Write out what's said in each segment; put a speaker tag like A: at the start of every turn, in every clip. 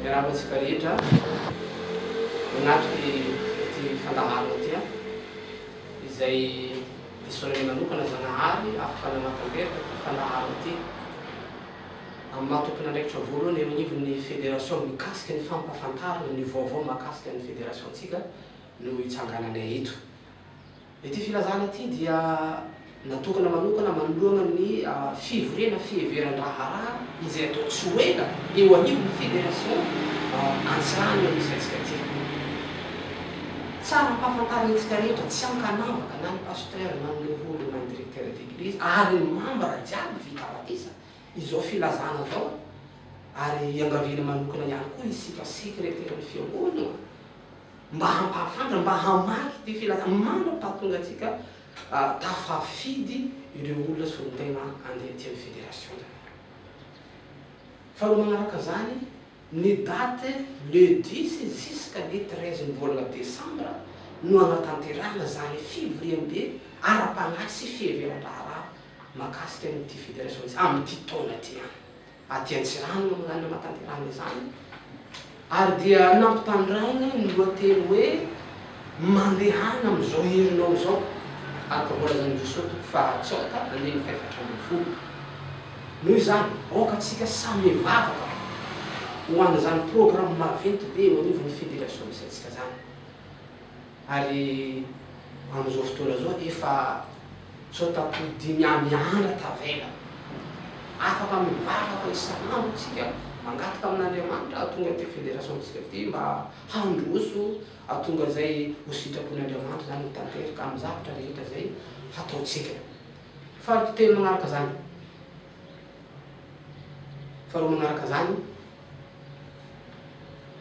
A: Miarahaba antsika rehetra manatrika ity fandaharana ity an! izay disoanay manokana Zanahary afaka nanatanteraka ity fandaharana ity amin'ny maha tompon'andraikitra voalohany eo anivon'ny federasiona mikasika ny fampahafantarana ny vaovao mahakasika ny federasiontsika no itsangananay eto. Ity filazana ity dia natokana manokana manoloana ny fivoriana fiheveran-draharaha izay atao tsy ho ela eo anivon'ny Fédération Antsirano amin'ity hetsika ity. Tsara ampahafantarintsika rehetra tsy ankanavaka na ny Pasteur na ny Levoly na ny Directeur d'Eglise ary ny membres jiaby vita batisa izao filazana izao ary iangaviana manokana ihany koa isika secretaire ny Fiangonana mba hampahafantatra, mba hamaky ity filazana mandraka hahatonga antsika tafafidy ireo olona solontena handeha aty amin'ny Fédération zany. Faharoa manaraka an'izany, ny date le dix jusqu'à le treize ny volana desambra no hanatanterahana izany fivoriambe ara-panahy sy fiheveran-draharaha mahakasika an'ity Fédération ity, amin'ity taona ity ihany. Aty Antsiranana no nanatanterahana izany ary dia nampitandràina ny lohateny hoe Mandehana amin'izao herinao izao araka voalazan'i Jesoa toko faha-tsaota andininy fahefatra ambin'ny folo. Noho izany, aoka antsika samy hivavaka ho an'izany programa maventy be eo anivon'ny Federasiona misy antsika izany. Ary amin'izao fotoana izao dia efa tsôtam-po dimy amby andro tavela. Afaka mivavaka isan'andro isika, mangataka amin'Andriamanitra hahatonga ity federasiontsika ity mba handroso hahatonga izay ho sitrapon'Andriamanitra izany ho tanteraka amin'ny zavatra rehetra izay hataontsika. Faharoa telo manaraka izany, faharoa manaraka izany,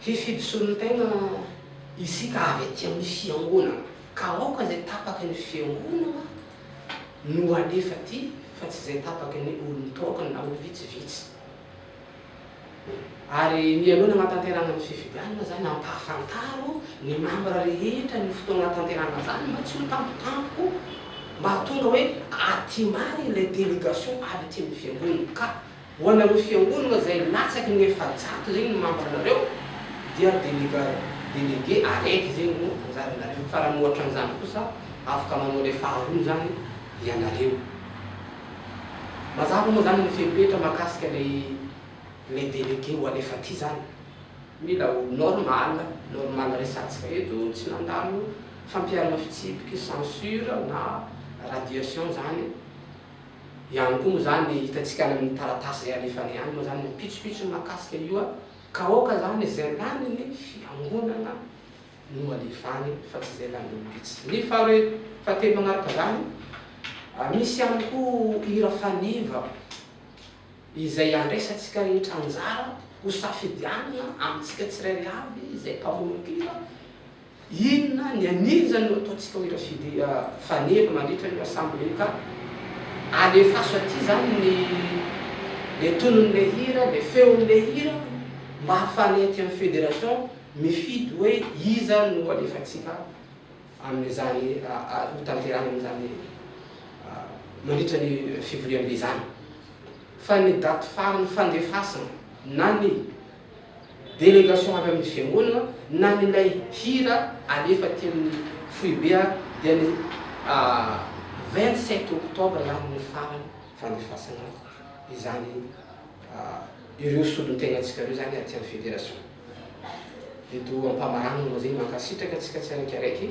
A: Hifidy solontena isika avy aty amin'ny fiangonana, ka aoka izay tapaky ny fiangonana no alefa aty fa tsy izay tapaky ny olon-toakany na ho vitsivitsy. Ary mialoha ny hanatanterahana ny fifidianana izany, ampahafantaro ny mambra rehetra ny fotoana hanatanterahana izany mba tsy ho tampotampoka, mba hahatonga hoe aty marina ilay délégation avy aty amin'ny fiangonana ka. Ho anareo fiangonana zay latsaky ny efajato zegny ny membre nareo dia delega délégué araiky zegny no anjaranareo fa raha mihoatran'izany kosa afaka manao le faharoa zany ianareo. Mazava moa zany ny fepetra makasika le le délégué ho alefa ty zany? Mila ho normal, normal resatsika eto tsy nandalo fampiharana fitsipiky, censure na radiation zany. ihany koa moa zany hitantsika any amin'ny taratasy izay alefany any moa zany ny pitsopitsony mahakasika io ka aoka zany izay lanin'ny fiangonana no alefany fa tsy izay lanin'ny olom-bitsy. Ny fahatelo manaraka izany, misy ihany koa hira faneva izay andraisantsika rehetra anjara hosafidianina amintsika tsirairay avy izay mpamonompira, Inona ny anio izany no ataontsika hoy Rashidi Faneva mandritra ny Rassemblee ka alefaso aty izany ny le tonon'ilay hira, le feon'ilay hira mba hahafahanay aty amin'ny Fédération mifidy hoe iza no alefantsika amin'izany hotanterahina amin'izany mandritra ny fivoriambe izany. Fa ny daty farany fandefasana na ny délégation avy amin'ny fiangonana na ny ilay hira alefa aty amin'ny foibe ary dia ny vingt sept octobre ihany no farany fandefasana izany ireo solontenantsika ireo izany aty amin'ny fédération. Eto am-pamaranana moa izay mankasitraka antsika tsiaraikaraiky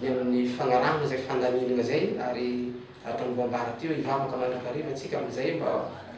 A: ny amin'ny fanarahana izay fandaminana izay ary araka ny voambara teo hivavaka mandrakariva tsika amin'izay mba